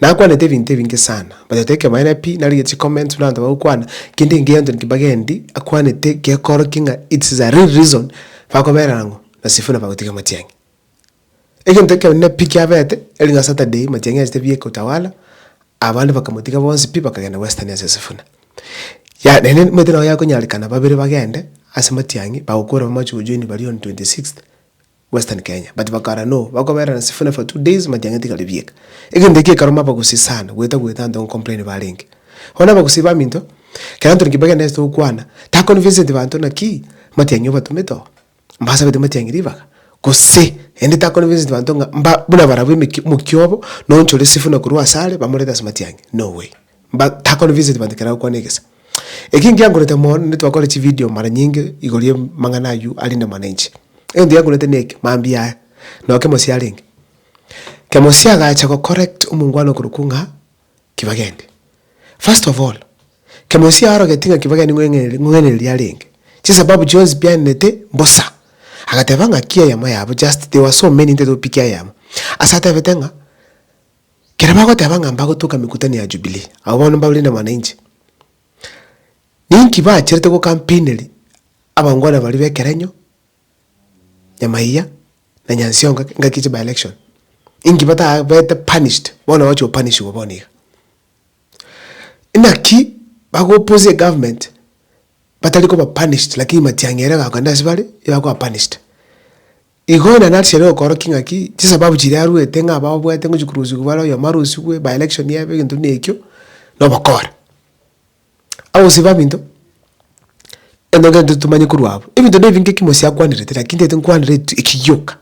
Nakwanete ebinto ebinge sana but oteba ekebaene pi narigia chi comments buna abanto bagokwana kende engiya Anthony Kibagendi akwanete gekorokia ng'a it's the real reason bakobera ang'o na Sifuna bagotiga Matiang'i. Egento ekenene pi kiabete eri ng'a Saturday Matiang'i achete bieka Utawala abande bakamotiga bonsi pi bakagenda Western ase Sifuna. Yaya naende nimanyete nao yakonyarekana babere bagende ase Matiang'i bagokora bamache gojoin baria on twenty sixth. Western Kenya but bakara no bakoberana nesifune for two days matiang'eti kare bieka. Egento ekio ekaruma abagusii sana goeta goeta anto gocomplain barenge. Bono abagusii baminto ekero Anthony Kibaki ande ase togokwana ta convinceti banto naki matiang'i obatomete oo mbasabete matiang'i ribaga gose ende ta convinceti banto ng'a mba buna barabwo emeki omokia obo na onchore esifune korwa asare bamorete ase matiang'i no way. Mba takore visit banto ekero agokwana egesa. Eki nkiankorete mono naende twakore chividio mara nyinge igoro ya amang'ana aywo arinde mana inche. Egento giankorete na eke, mambia aya, noo Kemosi arenge, Kemosi agacha gocorrect omongwana okorokwa ng'a Kibageni. First of all, Kemosi aorogetie ng'a Kibageni ng'o eng'e ng'o eng'eneri arenge, chisababu chionsi piaenenete mbosa. Agateba ng'aki eyemo yabo just they were so many ntaito gopikia eyemo. Ase atebete ng'a. Ekero bagoteba ng'a mbagotuka emekutano ya Jubilii, abwo bono mbaure na mwananchi. Ninki baacherete gocampaineri abangwana baria b'ekerenyo, Nyamaiya na Nyansiongo engaki ya chiby-election? Inki bataabete punished bono bagochi gopanishiwa bono iga? Inaki bagoopposia egovernment batari koba punished lakini matiang'i aria egokenda ase bare nigo akoba punished. Igo onye nari chiarenge gokoorokia ng'aki, chisababu chiria arwete ng'a baboete ngochia korusigwa bare oyomo arusigwe, by election ebe, egento buna ekio, na obokora. Ase ogosiba ebinto, egento kende totomanye korwa abwo, ebinto nebi nge kimosi akwanerete lakini ntagete nkwanere etu eki gioka.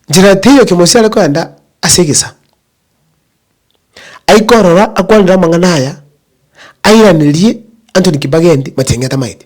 Nchera teiyo kimosi are kogenda ase egesa, aike orora akwanere amang'ana aya, airanerie Anthony Kibageni macheng'e atamaeti.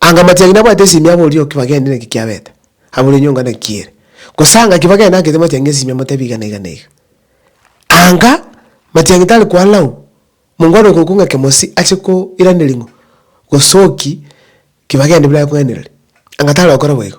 Anga matianyi nabwate esimia abori naki bagende naki kiabete, abori enyonga naki kiere. Gose anga ki bagende agete matianyi esimia amotebi iga na iga na iga. Anga matianyi tari kwana oo, monga ore goika kong'ake mosi ache koiraneria ng'o, gosoki ki bagende bire aye kong'ainereria. Anga tari gokora boigo.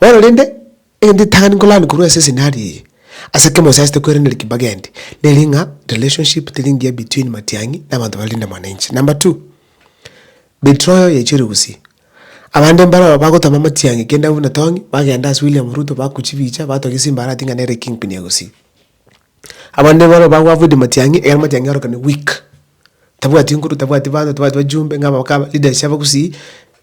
Bono rende, egento etang'ani nkoranie korwa ase esenari eye, ase ekemo gose ase tekweranera kimbaga eende, nere ng'a relationship teri engiya between Matiang'i na abanto bare Linda Mwananchi. Number two, betroyo yaichorire gusii. Abande mbaroo bagotoma Matiang'i kenda buna Tong'i, bagenda ase William Ruto baku chibicha, batwa gesimba arati ng'a nere kingpin ya gusii. Abande baroo bago avoid Matiang'i, egere Matiang'i aorokane weak. Tabwati nkuru, tabwati bana, tabwati bajumbe ng'a abakaba leaders chiabo gusii.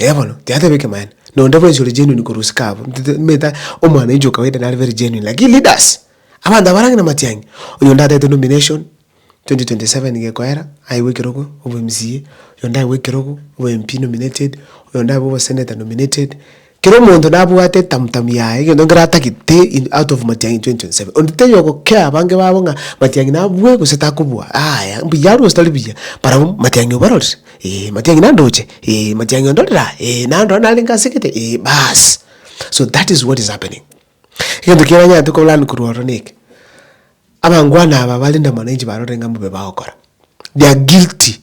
Eeh bono, tiateba ekemanyererio, nonde bwensi ore genuine korwa isiko abo, ntitete meta omwana oinche o kawaida nare very genuine, lakini leaders, abanto abare ang'e na matiang'i, oyo onde atagete nomination, 2027 gekoera, aewe ekerogo obe mca, oyo onde aewe ekerogo obe MP nominated, oyo onde aewe obe senator nominated, Kera omonto nabwate etamutamu yaye, egento nkere atagete in out of Matiang'i 2027. Onde tenya ogokea abange babo ng'a Matiang'i nabue gose takobua, aaya, mbuya arue gose tari buya, barabwo Matiang'i obarorire, eeh, Matiang'i nandoche, eeh, Matiang'i ondorere aa, eeh, nandora narenge ase egete, eeh, baas. So that is what is happening. Egento kiria nanyarete ko learn korwa ororo neke, abangwana aba barinde amang'ana inche barorire ng'a mbobe bagokora, they are guilty.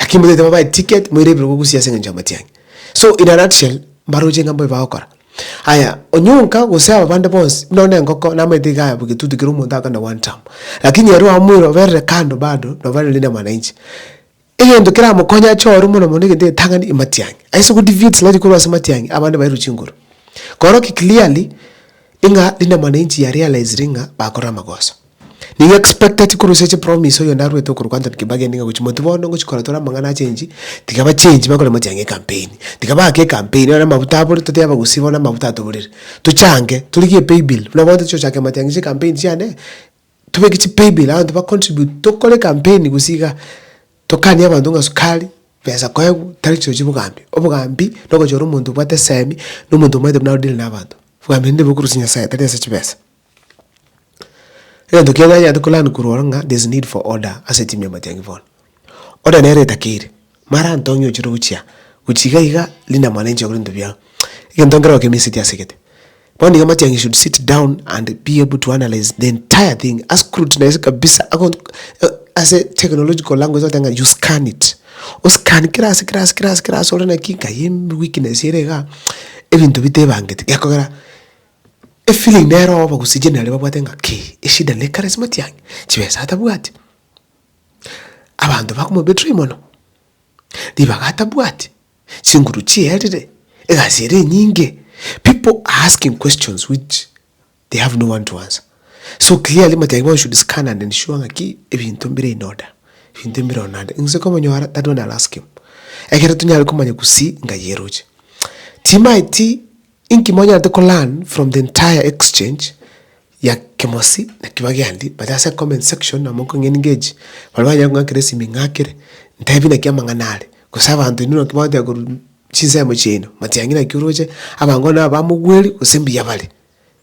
Lakini motaete babae ticket moirebirwe gogusia ase engencho y'amatiang'i. So in a nutshell mbaroche ng'a mbobe bagokora. Aya onyonka gose aba bande bonsi buna onde engoko namaete iga aya bw'egetutu kera omonto agakora na one term. Lakini ere oamoire oberire kando bado nabo are leader mwananchi. Egento keramokonye ache ororo mono mono egento egetang'ani ematiang'i. Ase go defeat sludge korwa ase amatiang'i abande bairwe chinguru. Koroki clearly ng'a leader mwananchi ya realizire ng'a bakorire amagoso. Nigo expected korusia chi promise oyonde arwete okorokwa Anthony Kibaki ende ng'a gochi moti bono ngochi kora tore amang'ana a change, tiga ba change bakore mochia ng'a ecampaign. Tiga baake ecampaign nonye na amabuta abore totebi abagusii bono amabuta atoborire. Tochange, torigie epay bill buna bono tochi gochaka mochia ng'a chi'ecampaign chiane, tobeke chi'pay bill abanto ba contribute tokore ecampaign gusii igaa. Tokanie abanto ng'a sukari, pesa koegwa, tari chirochio chia obogambi. Obogambi nogochora omonto obwate esemi, na omonto omanyete buna arodeal na abanto. Obogambi nende bokorusia Nyasaye tari ase chibesa. Egento kiaye nanyarete ko learn korwa ororo ng'a there's need for order ase etimu ya matiang'i bono. Order nere etakeire, mara antong'e ochire gochia gochia iga iga rinde amanye ninche gokora ebinto biao. Egento nkere gokia emeseiti asegete. Bono iga matiang'i should sit down and be able to analyse the entire thing, a scrutinise kabisa ago ase technological language togotebi ng'a you scan it. O scan kera ase kera ase kera ase kera ase ore naki nkai weakness ere igaa, ebinto bitebangete gekogera. Efiling nero obo gose generally babwate ng'a ki eshida ne charismati yane chibesa atabwati abanto bakomo betray mono ribaga atabwati chinguru chierire egasi ere enyinge pipo are asking questions which they have no one to answer so clearly matiga igo one should scan and ensure ng'a ki ebinto mbire in order ebinto mbire oo naende inse komonyora that one I'll ask him ekero tonyare komanya gusii ngayieroche timaeti Inki monyarete ko learn from the entire exchange ya Kemosi na Kibagendi but ase comment section na monko ng'e engage baria banyare kong'akera esimi ing'akere ntebi naki amang'ana are gose abanto inwe naki mwateba korwa chinsemo chiaino matiangi naki oroche abango nabo bamogweri gose mbuya bare.